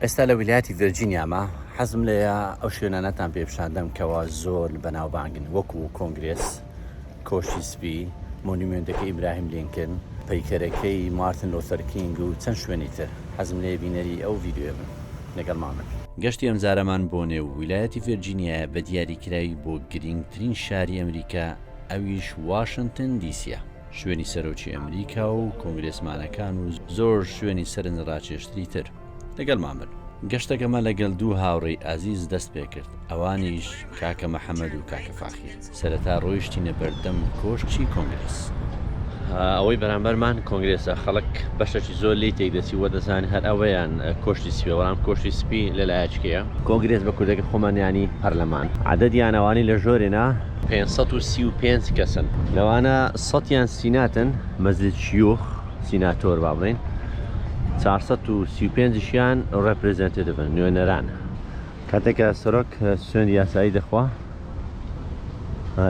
ئێستا لە ویلایەتی ڤێرجینیامە، حەزم لێیە ئەو شوێنانەتان پێ پیشان دەم کەوا زۆر بەناوبانگن وەکو کۆنگرێس، کۆشکی سپی، مۆنیمێنتەکەی ئیبراهیم لینکن، پەیکەرەکەی مارتن لۆثەر کینگ و چەند شوێنی تر. حەزم لێیە بینەری ئەو ڤیدیۆیە بم. لەگەڵمان بن. گەشتی ئەمجارەمان بۆ نێو ویلایەتی ڤێرجینیایە بە دیاریکراوی بۆ گرینگترین شاری ئەمریکا ئەویش واشنتن دی سیە. شوێنی سەرۆکی ئەمریکا و کۆنگرێسمانەکان و زۆر شوێنی سەرنجڕاکێشتری تر لەگەڵمان بن. گەشتەکەمان لەگەڵ دوو هاوڕێی ئازیز دەست پێکرد، ئەوانیش کاکە محەمەد و کاکە فاخیر. سەرەتا ڕۆیشتینە بەردەم کۆشکی کۆنگرێس. ئەوەی بەرامبەرمان کۆنگرێسە، خەڵک بەشێکی زۆر لێی تێکدەچی و دەزانێت هەر ئەوەیان کۆشکی سپییە، بەڵام کۆشکی سپی لە لایەکێیە. کۆنگرێس بە کوردەکەی خۆمان یانی پەرلەمان. عەدەدیان ئەوانەی لە ژۆرێنا پێنج سەد و سی و پێنج کەسن. لەوانە سەدیان سیناتن، مەجلیس شیوخ، سیناتۆر با بڵێین، چوار سەد و سی و پێنج شیان ڕێپرێزێنتیڤن، نوێنەران. کاتێک کە سەرۆک سوێندی یاسایی دەخوا،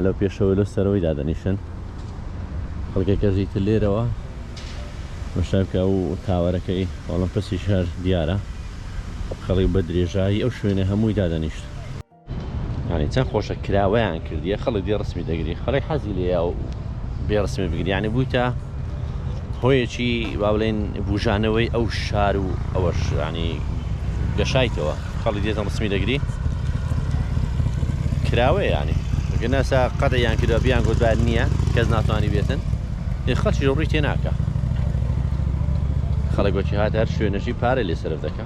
لەو پێشەوەی لۆ سەرەوەی دادەنیشن. خەڵکەکەژی تر لێرەوە مەشای بکە و تاوەرەکەی ئۆڵەمپسیش هەر دیارە. خەڵک بە درێژایی ئەو شوێنە هەمووی دادەنیشت. یانی چەن خۆشە کراوەیان کردیە خەڵک دێ ڕسمی دەگری خەڵک حەزی لێیە و بێ ڕسمی بگری یانی بوویتە هۆیەکی با بڵێن بوژانەوەی ئەو شار و ئەوەش ینی گەشایتەوە خەڵک دێتە ڕسمی دەگری کراوەیە ینی گەناسا قەدەیان کردە بیان گوتبار نییە کەس ناتوانانی بێتن خەڵکی ڕووی تێ ناکە خەڵک وەکی هات هەر شوێنەشی پارە لێ سرف دەکە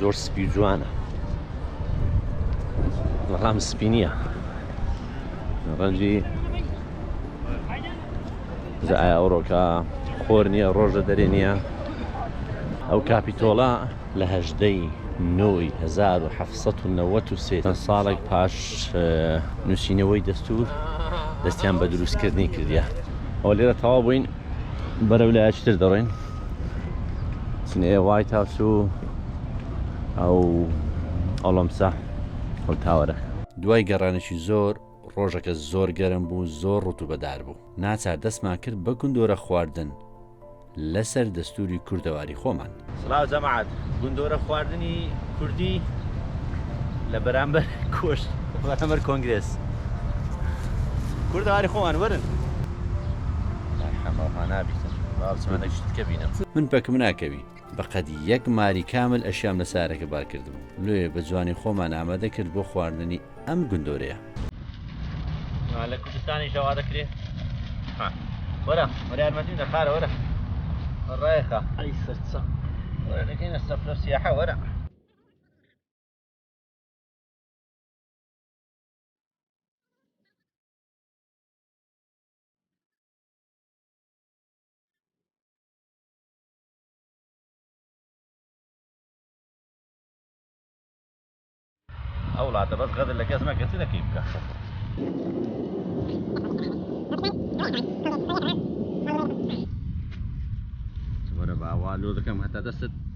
زۆر سپی جوانە بەڵام سپی نییە ڕەنجی ئایا ئەوڕۆکە خۆر نییە ڕۆژە دەرێ نییە ئەو کاپیتۆڵە لە هەژدەی نۆی 1970 ساڵێک پاش نووسینەوەی دەستور دەستیان بە دروستکردنی کردە ئەو لێرە تەوا بووین بەرەو لایچتر دەڕۆین سنەیە وایت هاوس و ئەو ئەڵەمسە ئەو تاوەرەکە. دوای گەڕانێکی زۆر، ڕۆژەکە زۆر گەرم بوو، زۆر ڕوتوبەدار بوو. ناچار دەستمان کرد بە گندۆرە خواردن لەسەر دەستووری کوردەواری خۆمان. سڵاو جەماعەت، گندۆرە خواردنی کوردی لە بەرامبەر کۆشک، بەرامبەر کۆنگرێس کوردەواری خۆمان، وەرن. من حەمە ها نابیتم با بچمەە شتکە بینم. من پەکم ناکەوی بەقەد یەک ماری کامل ئەشیام لە سارەکە بار کردبوو لۆیێ بە جوانی خۆمان ئامادە کرد بۆ خواردنی ئەم گندۆرەیە. لە کوردستانیش ئەوا دەکرێ وەرە وەرە یارمەتیم دە خارە وەرە ڕێخە ئەی سەرچە وەرە دەکەینە سەفرە سیاحە وەرە ئەو وڵاتە بەس غەدر لە کەس مەکە چ دەکەی بکە وەرە باوا لۆ دەکەم هەتا دەستت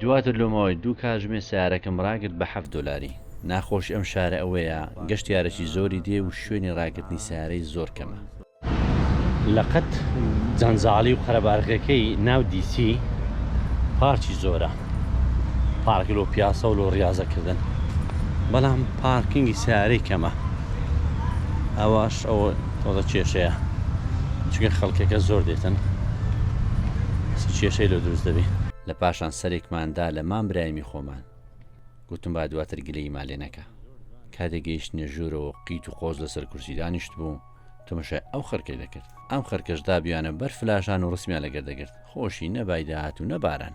دواتر لۆ ماوەی دوو کاژمێر سەیارەکەم ڕاگرت بە حەفت دۆلاری. ناخۆشی ئەم شارە ئەوەیە گەشتیارێکی زۆری دێ و شوێنی ڕاگرتنی سەیارەی زۆر کەمە. لە قەت جەنجاڵی و قەرەباڵغیەکەی ناو دی سی پارکی زۆرە، پارک لۆ پیاسە و لۆ ڕیاضە کردن، بەڵام پارکینگی سەیارەی کەمە ئەوەش ئەوە. وەڵا کێشەیە چونکە خەڵکەکە زۆر دێتن چ کێشەی لۆ دروست دەبی. لە پاشان سەرێکمان دا لە مام برایمی خۆمان گوتم با دواتر گلەیی ما لێ نەکا کاتێ گەیشتنە ژوورەوە قیت و قۆز لەسەر کورسی دانیشت بوو تەمەشای ئەو خەرکەی دەکرد ئەم خەرکەش دابیانە بەر فلاشان و ڕسمیان لەگەر دەگرت خۆشی نەبای داهات و نەباران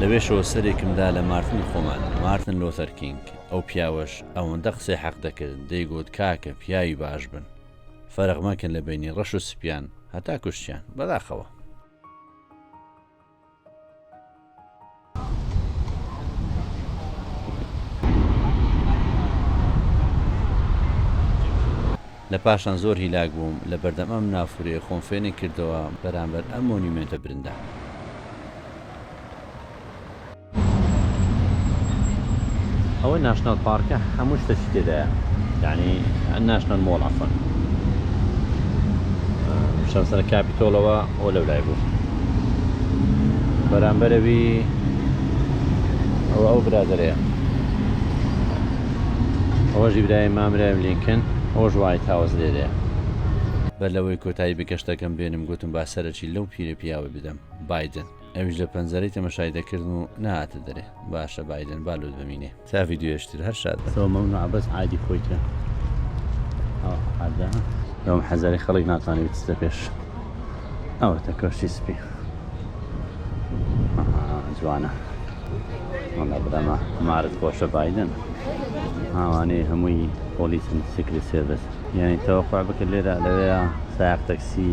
لەوێشەوە سەرێکم دا لە مارتن خۆمان، مارتن لۆثەر کینگ، ئەو پیاوەش ئەوەندە قسەی حەق دەکرد، دەیگوت کاکە پیاوی باش بن، فەرق مەکەن لە بەینی ڕەش و سپیان، هەتا کوشتیان، بەداخەوە. لە پاشان زۆر هیلاک بووم لە بەردەم ئەم نافورەیە خۆم فێنک کردەوە بەرامبەر ئەم مۆنیومێنتە برندانە. ئەوە ناشناڵ پارکە هەموو شتەکی تێدایە یعنی ناشناڵ مۆڵ عەفەن شەمسەر کاپیتۆڵەوە ئەو لەو لای بوو بەرامبەرەوی ئەو ئەو برادەرەیە ئەوەش ئیبراهیم ئامرایم لینکن ئەوەش وایت هاوس لێرەیە. بەر لەوەی کۆتایی بە گەشتەکەم بێنم گۆتم با سەرەکی لەو پیرە پیاوە بدەم بایدن ئەویش لە پەنجەرەی تەمەشای دەکردم و نەهاتە دەرێ باشە بایدن با لۆت بمینێ تا ڤیدیۆیش تر هەر شاد بن. تۆ مەمنوعە بەس عادی خۆی کە ئەوە حەدا لەوم حەزەری خەڵک ناتوانێت بچتە پێش ئەوەتە کۆشتی سپی جوانە. وەڵا برا مە مارت خۆشە بایدن ئاوانەی هەمووی پۆلیسن سیکری سێڤس یعنی تەوەقع بکە لێرە لەوەیە سایق تەکسی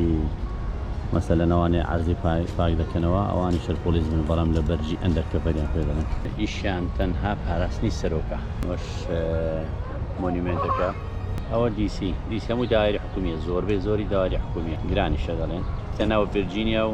مەسەلەن ئەوانەی عەرزی پاک دەکەنەوە ئەوانی شەر پۆلیس بن بەڵام لە بەرجی ئەندەر کەڤەریان پێ دەڵێن ئیشیان تەنها پاراستنی سەرۆکە وەش مۆنیمێنتەکە ئەوە دیسی دیسی هەموو داوای حکومیە زۆربەی زۆری داوای حکومیە گرانیشە دەڵێن تەناوە ڤرجینیا و